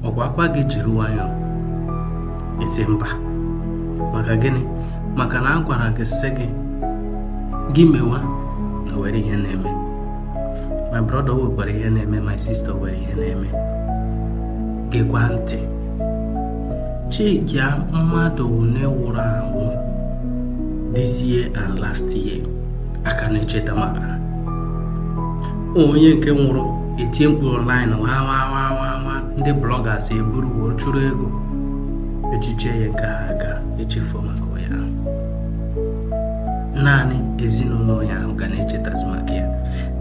ọkwa a gwa gị jiri nwayọọ ị sị mba maka gịnị maka na a gwara gị sị gị gị mewa na were ihe na-eme my brother wekwara ihe na-eme my sister were ihe na-eme gekwa ntị chekia mmadụ one wụrụ awụ this year and last year a ka na-echeta maka onye nke nwụrụ e tie mkpu online nwa ndị bloggers eburu chụrụ ego echiche ya nke ha ga-echefu maka ya naanị ezinụlọ ya ahụ ga na-echetazi maka ya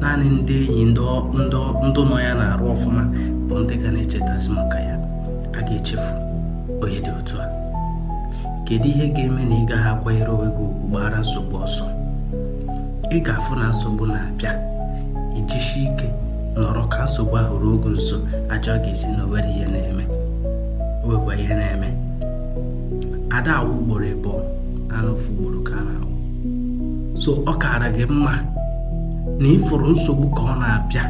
naanị ndị enyi ndị nọ ya n'arụ ọfụma bụ ndị ga na-echetazi maka ya a ga-echefu onye dị otu a kedu ihe ga-eme na ị gaghị akwanyere onwe gị ugwu gbara nsogbu ọsọ ị ga-afụ na nsogbu na-abịa i jisi ike nọrọ ka nsogbu ahụ ruo gị nso aja ọ ga-esi na o were ihe na-eme o wekwa ihe na-eme ada awụ ugboro ịbụọ naanị ofu ugboro ka a na-awụ so ọ kaara gị mma na ị fụrụ nsogbu ka ọ na-abịa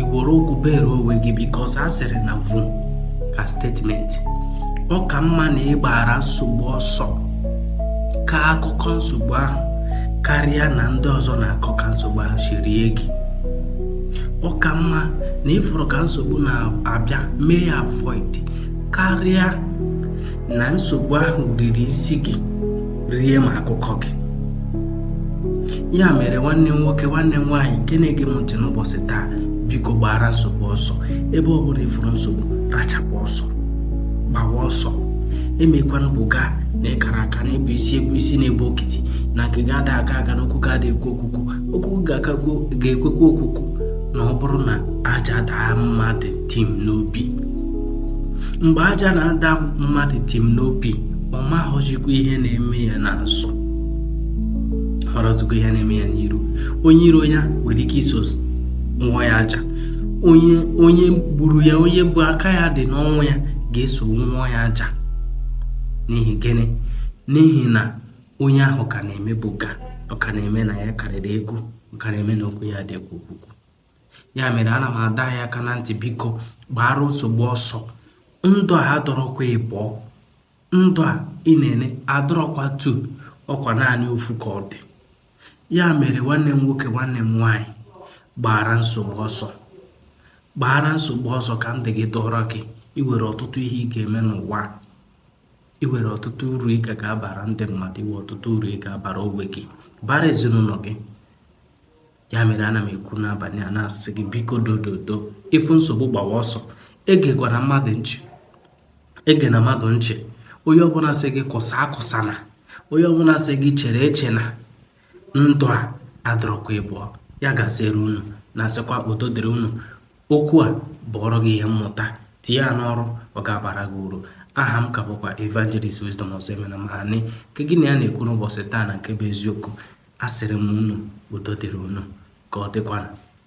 i were ụkwụ bere onwe gị because a sịrị na vum ka statement ọ ka mma na ị gbara nsogbu ọsọ kaa akụkọ nsogbu ahụ karịa na ndị ọzọ na-akọ ka nsogbu ahụ si rie gị ọ ka mma na ị fụrụ ka nsogbu na-abịa mee ya avoid karịa na nsogbu ahụ riri isi gị rie ma akụkọ gị ya mere nwanne m nwoke nwanne m nwaanyị nke na-ege m ntị n'ụbọchị taa biko gbara nsogbu ọsọ ebe ọ bụla ị fụrụ nsogbu rachapụ ọsọ gbawa ọsọ emekwana buga na ị kara aka na ị bụ isi ị bụ isi na-ebu okiti na nke gị ada agha agha na okwu gị ada ekwe okwukwu okwu gị ga-ekwekwa okwukwu na ọ bụrụ na aja daa mmadụ tim n'obi mgbe aja na-ada mmadụ tim n'obi ọ mahọzikwa ihe na-eme ya n'azụ hụrọzikwa ihe na-eme ya n'iru onye iro ya nwere ike iso wụọ ya aja onye onye gburu ya onye bụ aka ya dị n'ọnwụ ya ga-eso wụọ ya aja n'ihi gịnị n'ihi na onye ahụ ka na-eme buga ọ ka na-eme na ya karịrị ego ọ ka na-eme na okwu ya ada ekwe okwukwu ya mere ana m adọ anyị aka na ntị biko gbara nsogbu ọsọ ndụ a adịrọkwa ịbụọ ndụ a ị na-ene adịrọkwa two ọkwa naanị ofu ka ọ dị ya mere nwanne m nwoke nwanne m nwaanyị gbaara nsogbu ọsọ gbaara nsogbu ọsọ ka ndụ gị dọrọ gị i nwere ọtụtụ ihe ị ga-eme n'ụwa i nwere ọtụtụ uru ị ga ga-abara ndị mmadụ i nwe ọtụtụ uru ị ga-abara onwe gị bara ezinụlọ gị ya mere ana m ekwu n'abalị a na-asị gị biko dododo ị fụ nsogbu gbawa ọsọ egekwana mmadụ nchị egena mmadụ nchị onye ọbụla sị gị kụsa akụsana onye ọbụla sị gị chere echena ndụ a adọrọkwa ịbụọ ya gaziere unu na-asịkwa udo dịrị unu okwu a bụọrọ gị ihe mmụta tinye ya n'ọrụ ọ ga-abara gị uru aha m ka bụkwa evangelist wisdom ọzọemena mahani nke gị na ya na-ekwu n'ụbọchị taa na nke bụ eziokwu asịrị m unu udo dịrị unu ka ọ dịkwana